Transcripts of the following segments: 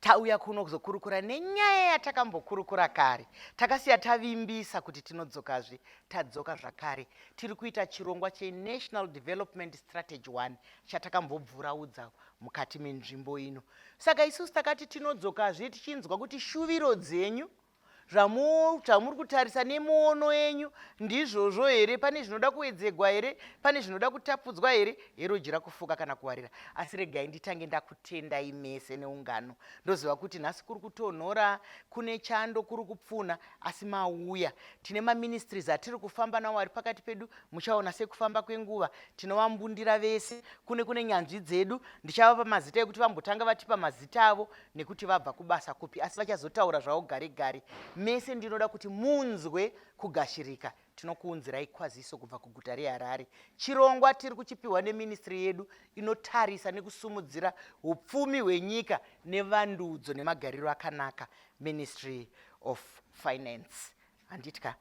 tauya kuno kuzokurukura nenyaya yatakambokurukura kare takasiya tavimbisa kuti tinodzokazve tadzoka zvakare tiri kuita chirongwa chenational development strategy one chatakambobvuraudza mukati menzvimbo ino saka isusu takati tinodzokazve tichinzwa kuti shuviro dzenyu zvamuri kutarisa nemuono yenyu ndizvozvo here pane zvinoda kuwedzegwa here pane zvinoda kutapudzwa here heroji rakufuka kana kuwarira asi regai nditange ndakutendai mese neungano ndoziva kuti nhasi kuri kutonhora kune chando kuri kupfuna asi mauya tine maministries atiri kufamba nawo ari pakati pedu muchaona sekufamba kwenguva tinovambundira vese kune kune nyanzvi dzedu ndichavapa mazita ekuti vambotanga vatipa mazita avo nekuti vabva kubasa kupi asi vachazotaura zvavo gare gare mese ndinoda kuti munzwe kugashirika tinokuunzirai kwaziso kubva kuguta reharare chirongwa tiri kuchipiwa neministry yedu inotarisa nekusumudzira upfumi hwenyika nevandudzo nemagariro akanaka ministry of finance handitya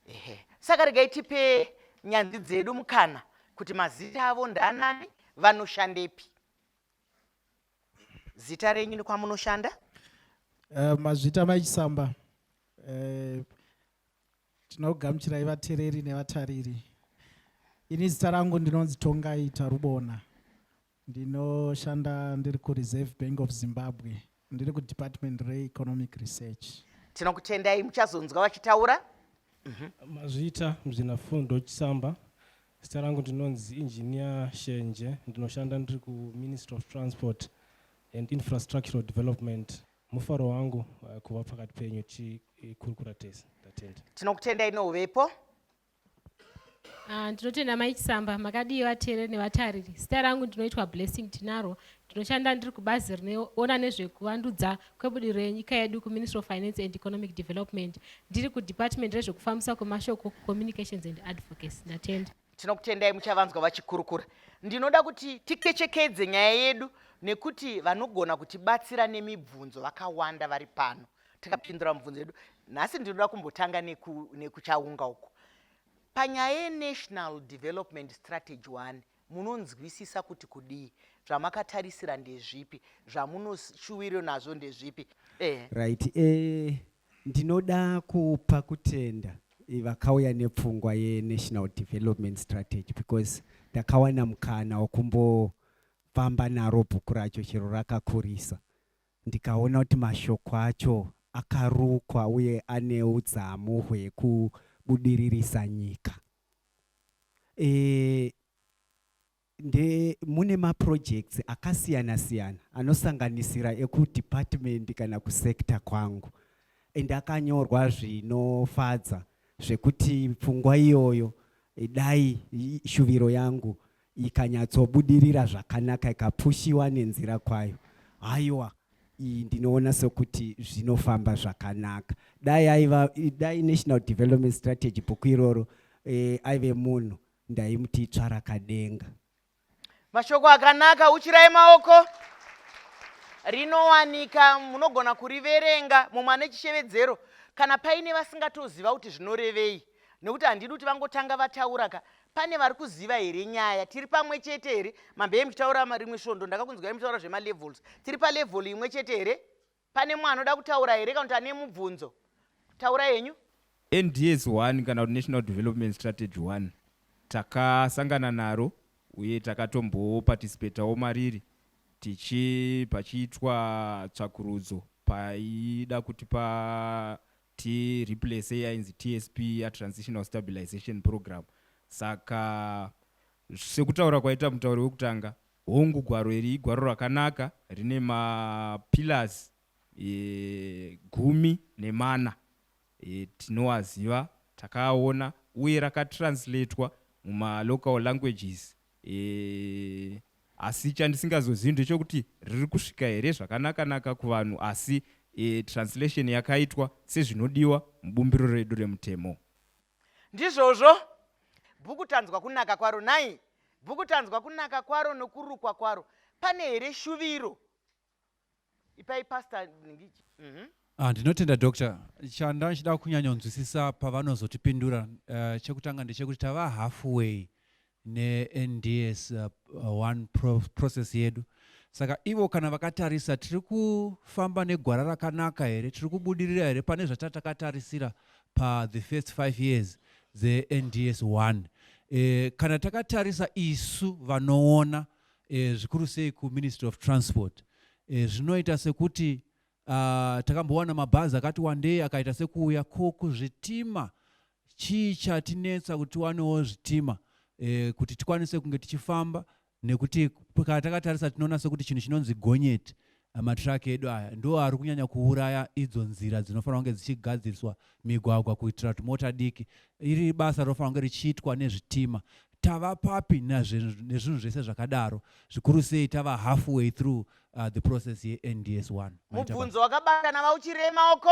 ehe saka regai tipe nyanzi dzedu mukana kuti mazita avo ndaanani vanoshandepi zita renyu nekwamunoshanda uh, mazvita maichisamba uh, eh, tinogamuchirai vatereri nevatariri ini zita rangu ndinonzi tongai tarubona ndinoshanda ndiri kureserve bank of zimbabwe ndiri kudepartment reeconomic research tinokutendai muchazonzwa vachitaura mhm. mazvita muzvinafundo chisamba Zita rangu ndinonzi Engineer Shenje ndinoshanda ndiri kuMinistry of Transport and Infrastructural Development. Mufaro wangu uh, kuva pakati penyu tikurukura tese. Ndatenda. Tinokutendai nouvepo. Ah, ndinotenda mai chisamba makadii vateereri nevatariri zita rangu ndinoitwa blessing tinaro ndinoshanda ndiri kubazi rinoona nezvekuvandudza kwebudiriro yenyika yedu kuministry of finance and economic development ndiri kudepartment rezvekufambisa kwemashoko communications and advocacy ndatenda tinokutendai muchavanzwa vachikurukura ndinoda kuti tikechekedze nyaya yedu nekuti vanogona kutibatsira nemibvunzo vakawanda vari pano tikapindura mubvunzo yedu nhasi ndinoda kumbotanga nekuchaunga neku uku panyaya yenational development strategy one munonzwisisa kuti kudii zvamakatarisira ndezvipi zvamunoshuwiro nazvo ndezvipi eh. right eh, ndinoda kupa kutenda eh, vakauya nepfungwa yenational development strategy because ndakawana mukana wekumbofamba naro bhuku racho chero rakakurisa ndikaona kuti mashoko acho akarukwa uye ane udzamu hwekubudiririsa nyika e, nde mune maprojects akasiyana siyana anosanganisira ekudepartment kana kusector kwangu and akanyorwa zvinofadza zvekuti pfungwa iyoyo dai shuviro yangu ikanyatsobudirira zvakanaka ikapushiwa nenzira kwayo haiwa iyi ndinoona sokuti zvinofamba zvakanaka dai aiva dai national development strategy bhuku iroro eh, aive munhu ndaimuti itsva rakadenga mashoko akanaka uchirai maoko rinowanika munogona kuriverenga mumwe ane chishevedzero kana paine vasingatoziva kuti zvinorevei nekuti handidi kuti vangotanga vataura ka Pane vari kuziva here nyaya? Tiri pamwe chete here? Mambeye muchitaura rimwe svondo ndakakunzwai muchitaura zvemalevels. Tiri palevel imwe chete here? Pane mumwe anoda kutaura here kana kuti ane mubvunzo? Taura yenyu. NDS 1 kana kuti National Development Strategy 1 takasangana naro uye takatomboparticipatawo mariri tichi pachiitwa tsvakurudzo paida kuti pa ti replace yainzi tsp ya transitional stabilization program saka sekutaura kwaita mutauri wekutanga hongu gwaro iri igwaro rakanaka rine mapillars e, gumi nemana e, tinoaziva takaona uye rakatranslatewa mumalocal languages e, asi chandisingazozivi ndechokuti riri kusvika here zvakanakanaka kuvanhu asi e, translation yakaitwa sezvinodiwa mubumbiro redu remutemo ndizvozvo bhuku tanzwa kunaka kwaro nhai bhuku tanzwa kunaka kwaro nokurukwa kwaro pane here shuviro ipai pastor nhingichi Mhm. Ah, ndinotenda doctor chanda ndichida kunyanyonzwisisa pavanozotipindura uh, chekutanga ndechekuti tava halfway nends uh, uh, one pro process yedu saka ivo kana vakatarisa tiri kufamba negwara rakanaka here tiri kubudirira here pane zvatatakatarisa pa the first five years dzends one e, kana takatarisa isu vanoona e, zvikuru sei kuministry of transport e, zvinoita sekuti uh, takambowana mabhazi akati wandei akaita sekuuya ko kuzvitima chii chatinetsa kuti tiwanewo zvitima e, kuti tikwanise kunge tichifamba nekuti kana takatarisa tinoona sekuti chinhu chinonzi gonyeti Matiraki edu aya ndo ari kunyanya kuuraya idzo nzira dzinofanira kunge dzichigadziriswa migwagwa kuitira kuti mota diki. Iri basa rinofanira kunge richiitwa nezvitima. Tava papi nezvinhu zvese zvakadaro zvikuru sei tava halfway through uh, the process yeNDS 1. Mubvunzo wakabatana vauchirema uko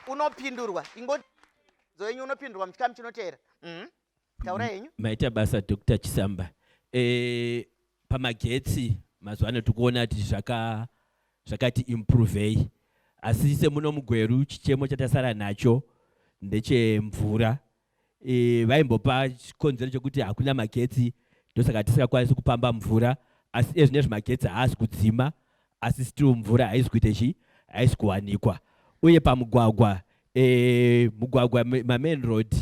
unopindurwa ingoti yenyu unopindurwa muchikamu chinoteera. Mm -hmm. taura henyu maita basa dr chisamba e, pamagetsi mazuva ano tikuona kuti zvaka zvakati improvei asi semuno mugweru chichemo chatasara nacho ndechemvura e, vaimbopa chikonzero chekuti hakuna magetsi ndosaka tisingakwanisi kupamba mvura asi ezvinezvi magetsi haasi kudzima asi still mvura haisi kuita chii haisi kuwanikwa uye pamugwagwa e, mugwagwa mamain road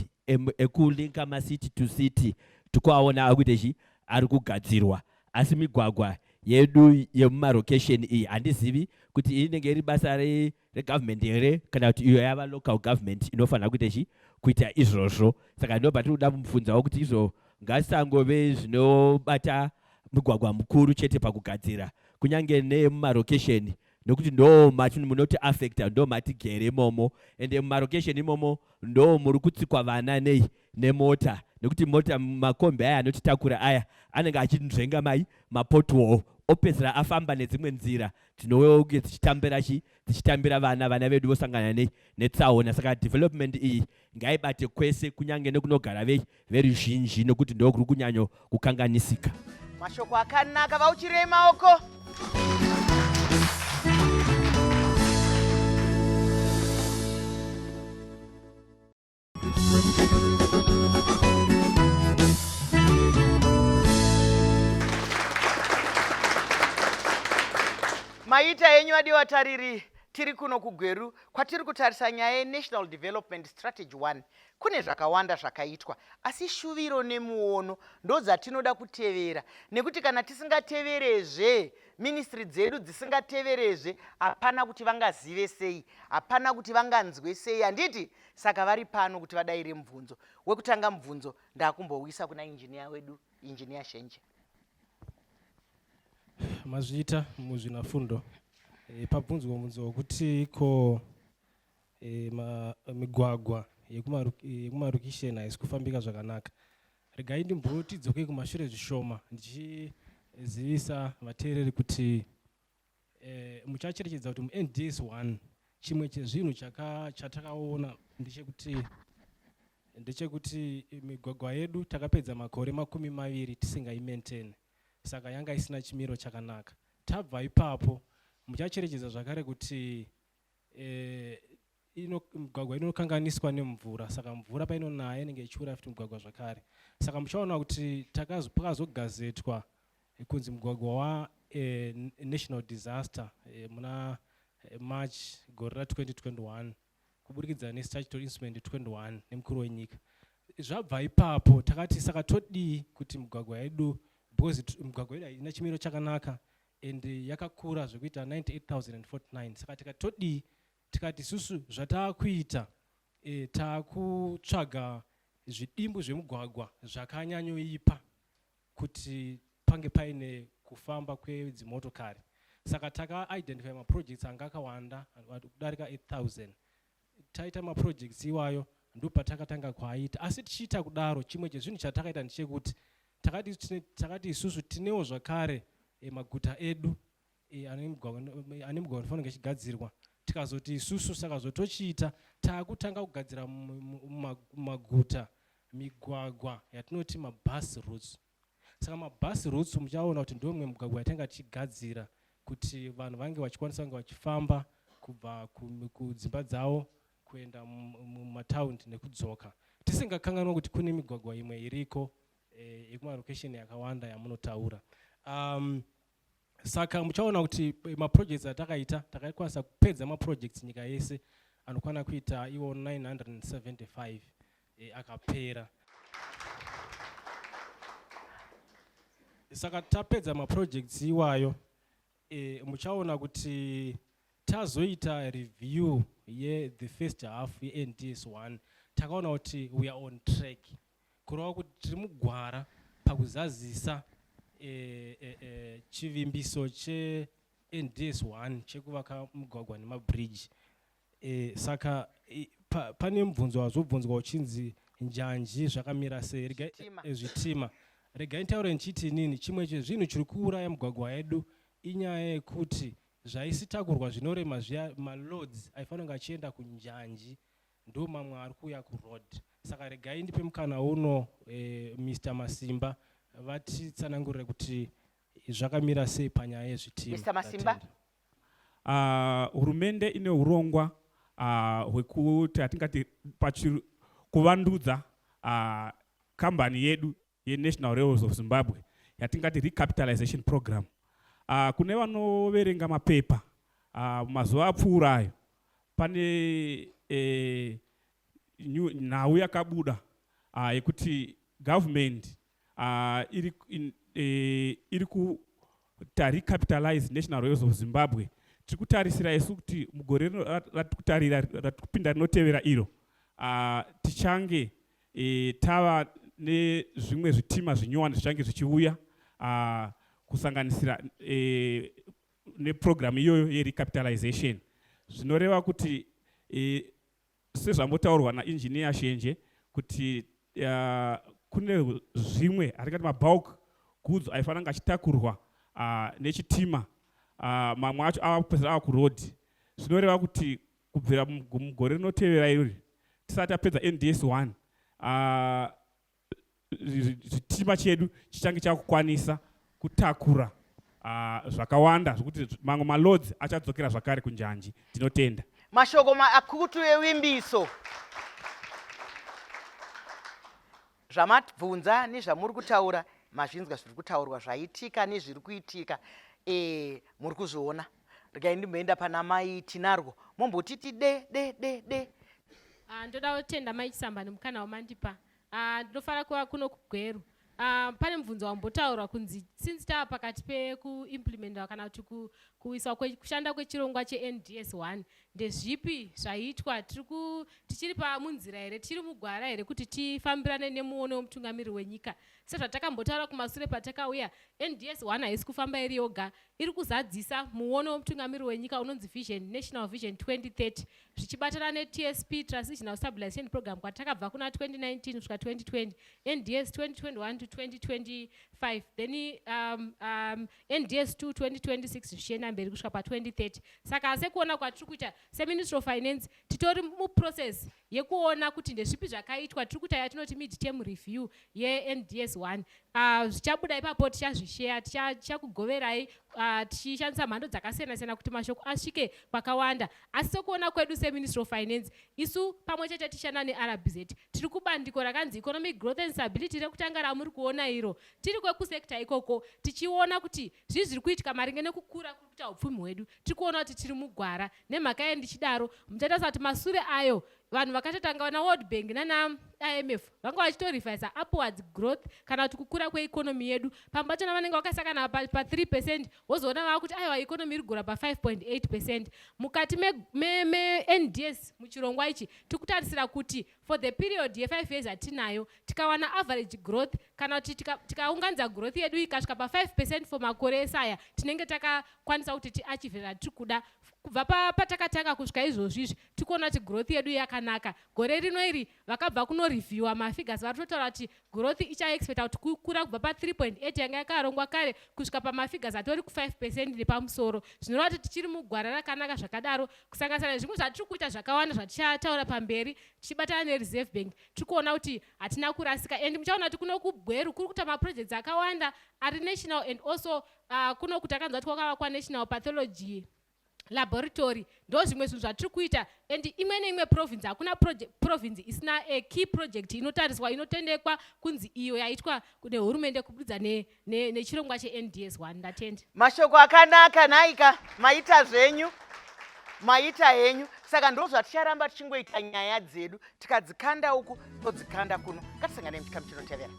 ekulinka e macity to city tikuaona akuita chii ari kugadzirwa asi migwagwa yedu yemumarokesheni iyi handizivi kuti inenge iri basa regovernment here kana kuti iyo yava local government inofanira kuita chi kuita izvozvo saka ndobva tiri kuda kumubvunzawo kuti izvo ngasangove zvinobata mugwagwa mukuru chete pakugadzira kunyange nemumarokesheni nokuti ndo mati munoti affecta ndo mati gere imomo ende mumarokesheni imomo ndo muri kutsikwa vana nei nemota nekuti mota makombi aya anotitakura aya anenge achinzvenga mai mapotwall opedzera afamba nedzimwe nzira tinouyawo uye tichitambira chi tichitambira vana vana vedu vosangana ne netsaona saka development iyi ngaibate kwese kunyange nekunogara vei veruzhinji nokuti ndokuri kunyanyo kukanganisika mashoko akanaka vauchirei maoko maita henyu vadi vatariri tiri kuno kugweru kwatiri kutarisa nyaya yenational development strategy 1 kune zvakawanda zvakaitwa asi shuviro nemuono ndodzatinoda kutevera nekuti kana tisingateverezve ministry dzedu dzisingateverezve hapana kuti vangazive sei hapana kuti vanganzwe sei handiti saka vari pano kuti vadaire mubvunzo wekutanga mubvunzo ndakumbouisa kuna injiniya wedu injiniya shenje mazviita muzvinafundo e, pabvunzwa mubvunzo wekuti ko e, ma, migwagwa yekumarukisheni e, haisi kufambika zvakanaka regai ndimbotidzoke kumashure zvishoma ndichizivisa vateereri kuti eh, muchacherechedza kuti munds 1 chimwe chezvinhu chatakaona ndechekuti ndechekuti migwagwa yedu takapedza makore makumi maviri tisingaimaintain saka yanga isina chimiro chakanaka tabva ipapo muchacherechedza zvakare kuti eh, ino, migwagwa inokanganiswa nemvura saka mvura painonaya inenge ichiura futi mugwagwa zvakare saka muchaona kuti pakazogazetwa eh, kunzi mugwagwa wanational eh, disaster eh, muna eh, march gore ra 2021 kuburikidza nestatutory instrument 21 nemukuru wenyika zvabva ipapo takati saka todii kuti migwagwa yedu because migwagwa yedu haina chimiro chakanaka and yakakura zvekuita 98049 saka tikati todii tikati isusu zvataakuita e, eh, taakutsvaga zvidimbu zvemugwagwa zvakanyanyoipa kuti pange paine kufamba kwedzimotokari saka takaidentify maprojects anga akawanda kudarika 8000 taita maprojects iwayo ndopatakatanga kuaita asi tichiita kudaro chimwe chezvinhu chatakaita ndichekuti takati isusu tinewo zvakare eh, maguta edu e, ane mugwagwa unofanira kunge chigadzirwa tikazoti isusu saka zvotochiita taakutanga kugadzira mumaguta migwagwa yatinoti mabus routes saka mabus routes muchaona kuti ndomwe mugwagwa yatanga tichigadzira kuti vanhu vange vachikwanisa kunge vachifamba kubva kudzimba dzavo kuenda mumataundi nekudzoka tisingakanganwa kuti kune migwagwa imwe iriko eh, yekumarokesheni yakawanda yamunotaura um, saka muchaona kuti eh, maprojects atakaita takakwanisa kupedza maprojects nyika yese anokwana kuita iwo 975 e, eh, akapera saka tapedza maprojects iwayo e, muchaona kuti tazoita review ye the first half ye nds 1 takaona kuti we are on track kureva kuti tiri mugwara pakuzazisa e, e, e, chivimbiso chends 1 chekuvaka mugwagwa nemabridge e, saka e, pa, pane mubvunzo wazobvunzwa uchinzi njanji zvakamira sei rega zvitima e, regai ntaure ndichiti inini chimwe chezvinhu chiri kuuraya mugwagwa yedu inyaya yekuti zvaisitakurwa zvinorema zviya maloads aifanira kunge achienda kunjanji Ndo mamwe ari kuuya ku road. Saka regai ndipe mukana uno eh, Mister Masimba vatitsanangurire kuti zvakamira sei panyaya yezvitima. Mister Masimba. Tatenda. Ah, hurumende ine urongwa ah, hwekuti hatingati pachi kuvandudza ah, kambani yedu yeNational Railways of Zimbabwe yatingati recapitalization program. Uh, kune vanoverenga mapepa uh, mazuva apfuura ayo pane eh, nhau yakabuda uh, yekuti government uh, iri, in, eh, iri ku recapitalize National Railways of Zimbabwe tiri kutarisira isu kuti mugore rino ratikutarira ratikupinda rinotevera iro uh, tichange e, tava nezvimwe zvitima zvinyowani zvichange zvichiuya uh, kusanganisira e, neprogramu iyoyo yerecapitalization zvinoreva kuti e, sezvambotaurwa nainjiniya shenje kuti uh, kune zvimwe atingati mabulk goods aifanira kunge achitakurwa uh, nechitima uh, mamwe acho ava kupesera ava kuroad zvinoreva kuti kubvira mugore rinotevera irori tisati tapedza nds 1 ah, chitima chedu chichange chakukwanisa kutakura ah, zvakawanda zvokuti mamwe malodzi achadzokera zvakare kunjanji tinotenda mashoko maakutu ewimbiso Zvamatbvunza nezvamuri kutaura mazvinzwa zviri kutaurwa zvaitika nezviri kuitika eh, muri kuzviona regai ndimboenda pana mai tinarwo mombotiti de de de de Ah, ndoda kutenda mai chisambani mukana wamandipa Ah, ndinofanira kuva kuno kugweru Ah, pane mubvunzo wambotaurwa kunzi since tava pakati pekuimplementawa kana kuti ku- kuiswa kwe- kushanda kwechirongwa chends 1 Ndezvipi zvaiitwa? Tiri ku tichiri pa munzira here? Tichiri mugwara here kuti tifambirane nemuono wemutungamiri wenyika? Sezvatakambotaura kumasure patakauya, NDS 1 haisi kufamba iri yoga. Iri kuzadzisa muono wemutungamiri wenyika unonzi Vision National Vision 2030 zvichibatana neTSP Transitional Stabilization Program kwatakabva kuna 2019 kusvika 2020, NDS 2021 to 2025. Then um, um, NDS 2 2026 zvichienda mberi kusvika pa2030 saka sekuona kwatiri kuita seministry of finance titori muprocess yekuona kuti ndezvipi zvakaitwa tiri kuita yatinoti mid term review yends 1 uh, ah, zvichabuda ipapo tichazvisheya tichakugoverai ah, tichishandisa uh, mhando dzakasiyana siyana kuti mashoko asvike kwakawanda asi sekuona kwedu seministry of finance isu pamwe chete tichishanda nerbz tiri kubandiko rakanzi economic growth and stability rekutanga ramuri kuona iro tiri kwekusekta ikoko tichiona kuti zvii zviri kuitika maringe nekukura kuri kuita upfumi hwedu tiri kuona kuti tiri mugwara nemhaka ye ndichidaro muchatarisa kuti masure ayo vanhu vakatotanga vana world bank nanaimf vanga vachitorevisa upwards growth kana kuti kukura kweikonomi yedu pamwe pachona vanenge vakasakana pa 3 percent wozoona vava kuti aiwa ikonomi iri kugura pa 5.8 percent mukati mends me, me muchirongwa ichi tiri kutarisira kuti for the period ye 5 years atinayo tikawana average growth kana kuti tikaunganidza tika growth yedu ikasvika pa 5 percent for makore ese aya tinenge takakwanisa kuti tiachieve ratiri kuda kubva patakatanga kusvika izvozvi izvi tikuona kuti growth yedu yakanaka gore rino iri vakabva kunorevhiewa mafigures vari kutotaura kuti Growth ichaexpecta kuti kukura kubva pa 3.8 yanga yakarongwa kare kusvika pamafigures atori ku 5 percent nepamusoro zvinoreva kuti tichiri mugwara rakanaka zvakadaro kusanganisira nezvimwe zvatiri kuita zvakawanda zvatichataura pamberi tichibatana nereserve bank tiri kuona kuti hatina kurasika and muchaona kuti kuno kubweru kuri kuita maprojects akawanda ari national and also uh, kuno kuti akanzwa kuti kwakavakwa national pathology laboratory ndozvimwe zvinhu zvatiri kuita and imwe neimwe province hakuna province isina a key project inotariswa inotendekwa kunzi iyo yaitwa nehurumende kubudidza nechirongwa ne, ne chends one ndatenda mashoko akanaka nhaika maita zvenyu maita henyu saka ndo zvaticharamba tichingoita nyaya dzedu tikadzikanda uku todzikanda kuno ngatisangane muchikamu chinotevera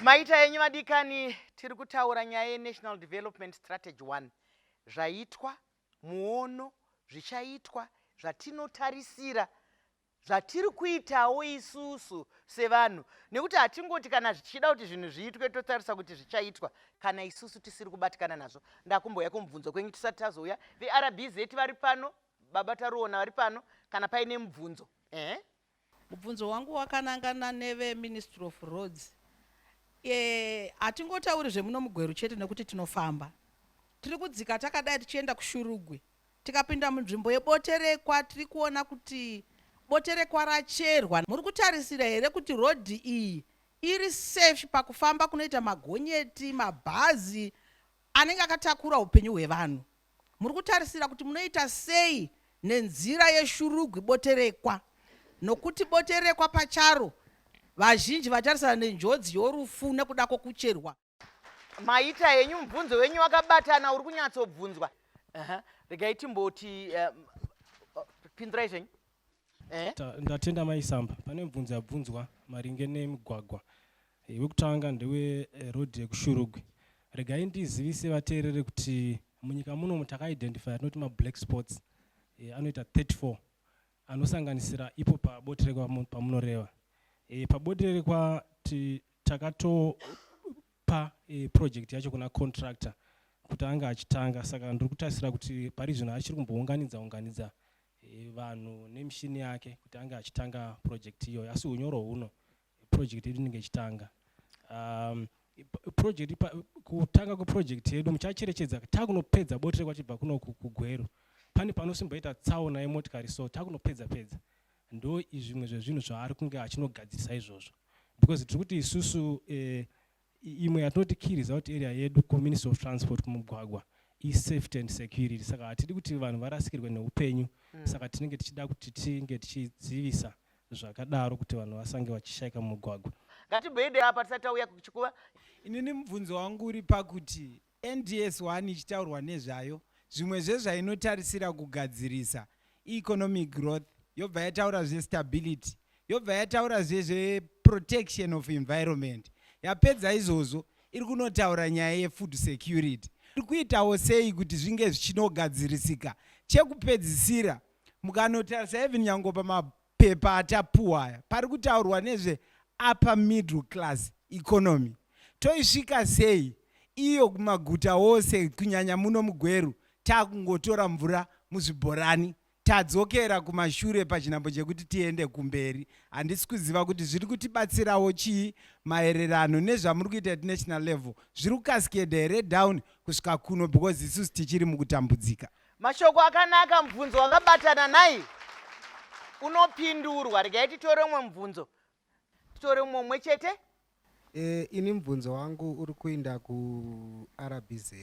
maita yenyu madikani tiri kutaura nyaya yenational development strategy 1 zvaitwa Muono, Zvichaitwa zvatinotarisira, zvatiri kuitawo isusu sevanhu nekuti hatingoti kana zvichida kuti zvinhu zviitwe totarisa kuti zvichaitwa kana isusu tisiri kubatikana nazvo. Ndakumbouya kumubvunzo kwenyu tisati tazouya. VeRBZ vari pano, Baba Taruona vari pano kana paine mubvunzo. Ehe. Mubvunzo wangu wakanangana neve Ministry of Roads. Eh, hatingotauri zvemuno muGweru chete nekuti tinofamba. Tiri kudzika takadai tichienda kuShurugwi. Tikapinda munzvimbo yeBoterekwa tiri kuona kuti Boterekwa racherwa. Muri kutarisira here kuti road iyi iri safe pakufamba kunoita magonyeti, mabhazi anenge akatakura upenyu hwevanhu? Muri kutarisira kuti munoita sei nenzira yeshurugwi boterekwa nokuti boterekwa pacharo vazhinji vatarisana nenjodzi yorufu nekuda kwokucherwa. Maita henyu mubvunzo wenyu wakabatana uri kunyatsobvunzwa. Regai timboti um, pindirai zvenyu. Eh? ndatenda mai samba pane mubvunzo yabvunzwa maringe nemigwagwa eh, wekutanga ndewe eh, road yekushurugwi regai ndizivise vateerere kuti munyika munomu takaidentifya tinoti mablack spots anoita 34 anosanganisira ipo pabotere pamunoreva pabotere kwa takatopa project yacho kuna contractor kuti anga achitanga saka ndiri kutarisira kuti pari zvino achiri kumbounganidza unganidza e, vanhu nemishini yake kuti ange achitanga project iyoyo asi unyoro huno project yedu inenge ichitanga um, project pa, kutanga kweproject yedu muchacherechedza takunopedza boti rekwachibva kuno kugweru pane panosimboita tsaona yemotikari so takunopedza pedza ndo zvimwe zvezvinhu zvaari kunge achinogadzirisa izvozvo because tiri kuti isusu eh, imwe yatoti key result area yedu kuministry of transport kumugwagwa isafety and security saka hatidi kuti vanhu varasikirwe neupenyu mm. saka tinenge tichida kuti tinge tichidzivisa zvakadaro kuti vanhu vasange vachishaika mumugwagwa ngatibhoidei apa tisati tauya kuchikuva inini mubvunzo wangu uri pakuti NDS one ichitaurwa nezvayo, zvimwe zvezvainotarisira kugadzirisa ieconomic growth, yobva yataura zvestability, yobva yataura zvezveprotection of environment. Yapedza izvozvo iri kunotaura nyaya yefood security. Iri kuitawo sei kuti zvinge zvichinogadzirisika? Chekupedzisira mukanotarisa even nyango pama mapepa atapuwa aya pari kutaurwa nezve upper middle class economy toisvika sei iyo kumaguta ose kunyanya muno mugweru takungotora mvura muzvibhorani tadzokera kumashure pachinhambo chekuti tiende kumberi handisi kuziva kuti zviri kutibatsirawo chii maererano nezvamuri kuita at national level zviri kukasikeda here down kusvika kuno because isusu tichiri mukutambudzika mashoko akanaka mubvunzo wakabatana nai unopindurwa regai titore umwe mubvunzo titore umwe umwe chete e, ini mubvunzo wangu uri kuinda kurbz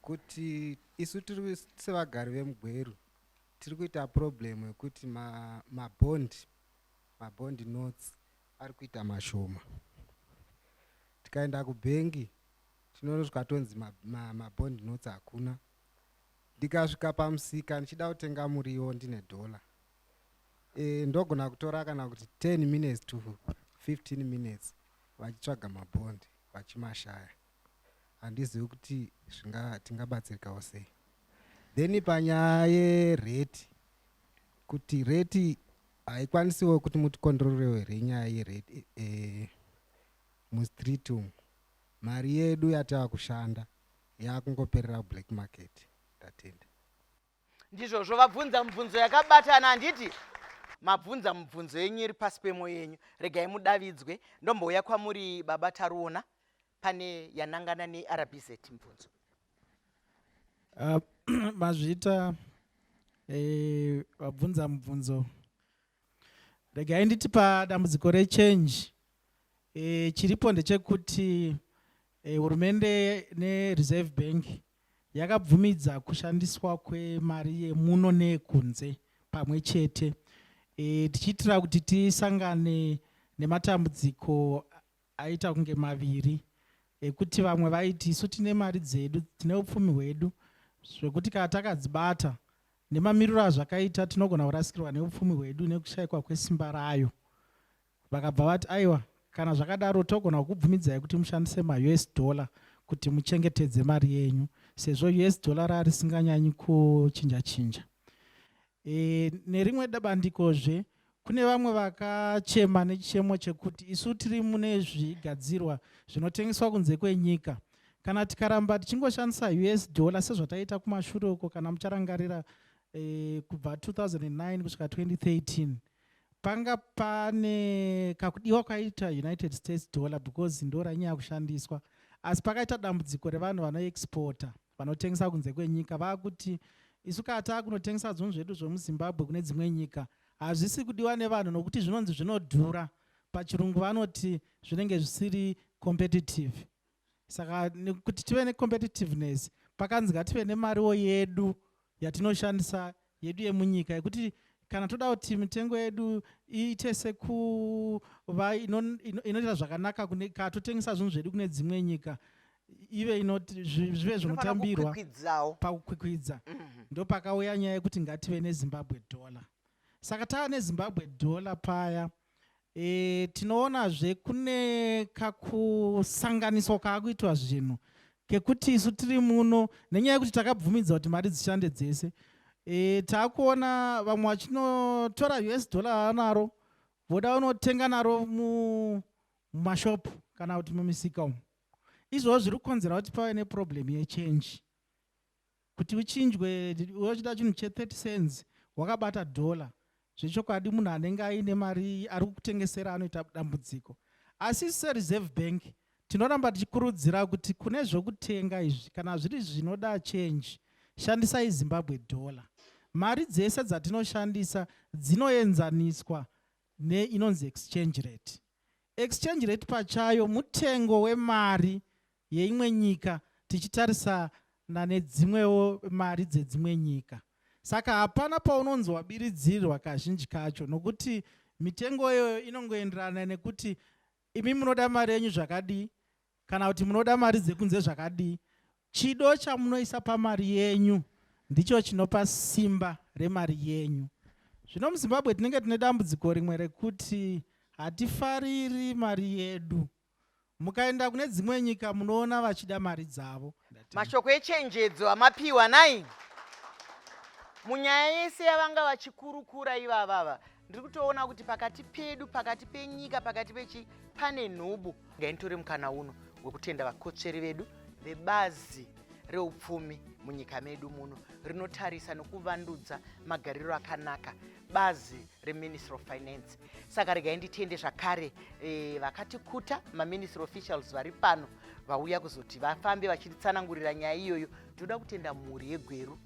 kuti isu tiri sevagari vemugweru tiri kuita problem yekuti mabond ma mabond notes ari kuita mashoma tikaenda kubhengi tinosvika tonzi ma, ma, ma bond notes hakuna ndikasvika pamusika ndichida kutenga muriwo ndine dhola e, ndogona kutora kana kuti 10 minutes to 15 minutes vachitsvaga mabhondi vachimashaya handizivi kuti zvinga tingabatsirikawo sei then panyaya yereti kuti reti haikwanisiwo kuti mutikondororewe renyaya yereti e, e, mustreet umu Mari yedu yatava kushanda yakungoperera kublack market. Ndatenda. Ndizvozvo vabvunza mubvunzo yakabatana handiti? Mabvunza mubvunzo yenyu iri pasi pemo yenyu. Regai mudavidzwe. Ndombouya kwamuri baba Taruona pane yanangana neRBZ mubvunzo. Uh, mazvita eh, vabvunza mubvunzo regai nditi padambudziko rechange e, chiripo ndechekuti e, hurumende nereserve bank yakabvumidza kushandiswa kwemari yemuno neyekunze pamwe chete e, tichiitira kuti tisangane nematambudziko aita kunge maviri ekuti vamwe vaiti isu tine mari dzedu tine upfumi hwedu zvekuti kana takadzibata Nemamiriro azvakaita tinogona kurasikirwa neupfumi hwedu nekushaikwa kwesimba rayo. Vakabva vati, aiwa, kana zvakadaro togona kukubvumidzai kuti mushandise maUS dollar kuti muchengetedze mari yenyu sezvo US dollar rarisinganyanyi kuchinja chinja. E, nerimwe bandiko zve Kune vamwe vakachema nechichemo chekuti isu tiri mune zvigadzirwa zvinotengeswa kunze kwenyika. Kana tikaramba tichingoshandisa US dollar sezvataiita kumashure uko kana mucharangarira eh, kubva 2009 kusvika 2013 panga pane kakudiwa kwaita United States dollar because ndoranyaya kushandiswa asi pakaita dambudziko revanhu vanoexporta vanotengesa kunze kwenyika vakuti isu kaa taakunotengesa zvinhu zvedu zvemuzimbabwe kune dzimwe nyika hazvisi kudiwa nevanhu nokuti zvinonzi zvinodhura pachirungu vanoti zvinenge zvisiri competitive saka nekuti tive necompetitiveness pakanzi ngative nemariwo yedu yatinoshandisa yedu yemunyika yekuti kana toda kuti mitengo yedu iite sekuva inoita zvakanaka ka totengesa zvinhu zvedu kune dzimwe nyika ive zvive zvinotambirwa pakukwikwidza mhm. ndopakauya nyaya yekuti ngative nezimbabwe dollar saka tava nezimbabwe dollar paya mm -hmm. e, tinoonazve kune kakusanganiswa kaakuitwa zvinhu kekuti isu tiri muno nenyaya yekuti takabvumidza kuti mari dzishande dzese e, taakuona vamwe vachinotora us dollar vanaro voda vanotenga naro mumashopu kana kuti mumisika umu izvoo zviri kukonzera kuti pave neproblem yechange kuti uchinjwe uchida chinhu che 30 cents wakabata dollar zvechokwadi munhu anenge aine mari ari kukutengesera anoita dambudziko asi isu sereserve bank tinoramba tichikurudzira kuti kune zvokutenga izvi kana zviri zvinoda change shandisai zimbabwe dollar mari dzese dzatinoshandisa dzinoenzaniswa neinonzi exchange rate exchange rate pachayo mutengo wemari yeimwe nyika tichitarisana nedzimwewo mari dzedzimwe nyika saka hapana paunonzi wabiridzirwa kazhinji kacho nokuti mitengo iyoyo inongoenderana nekuti imi munoda mari yenyu zvakadii kana kuti munoda mari dzekunze zvakadii chido chamunoisa pamari yenyu ndicho chinopa simba remari yenyu zvino muzimbabwe tinenge tine dambudziko rimwe rekuti hatifariri mari yedu Mukaenda kune dzimwe nyika munoona vachida mari dzavo. Mashoko echenjedzo amapiwa nai munyaya yese yavanga vachikurukura ivavava ndiri kutoona kuti pakati pedu pakati penyika pakati pechi pane nhubu ngainitore mukana uno wekutenda vakotsveri vedu vebazi reupfumi munyika medu muno rinotarisa nokuvandudza magariro akanaka bazi reministry of finance saka regai nditende zvakare e, vakatikuta maministry officials vari pano vauya kuzoti vafambe vachitsanangurira nyaya iyoyo tinoda kutenda mhuri yegweru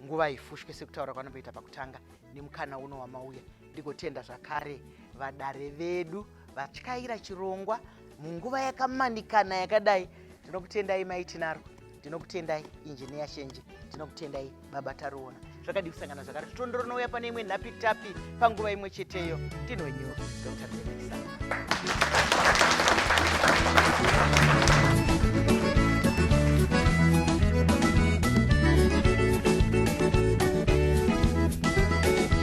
nguva ifushwe sekutaura kwanomboita pakutanga nemukana uno wamauya ndigotenda zvakare vadare vedu vatyaira chirongwa munguva yakamanikana yakadai ndinokutendai mai tinaro ndinokutendai injiniya shenje ndinokutendai baba taruona zvakadii kusangana zvakare titondo rinouya pane imwe nhapitapi panguva imwe cheteyo ndinonyura dr benesa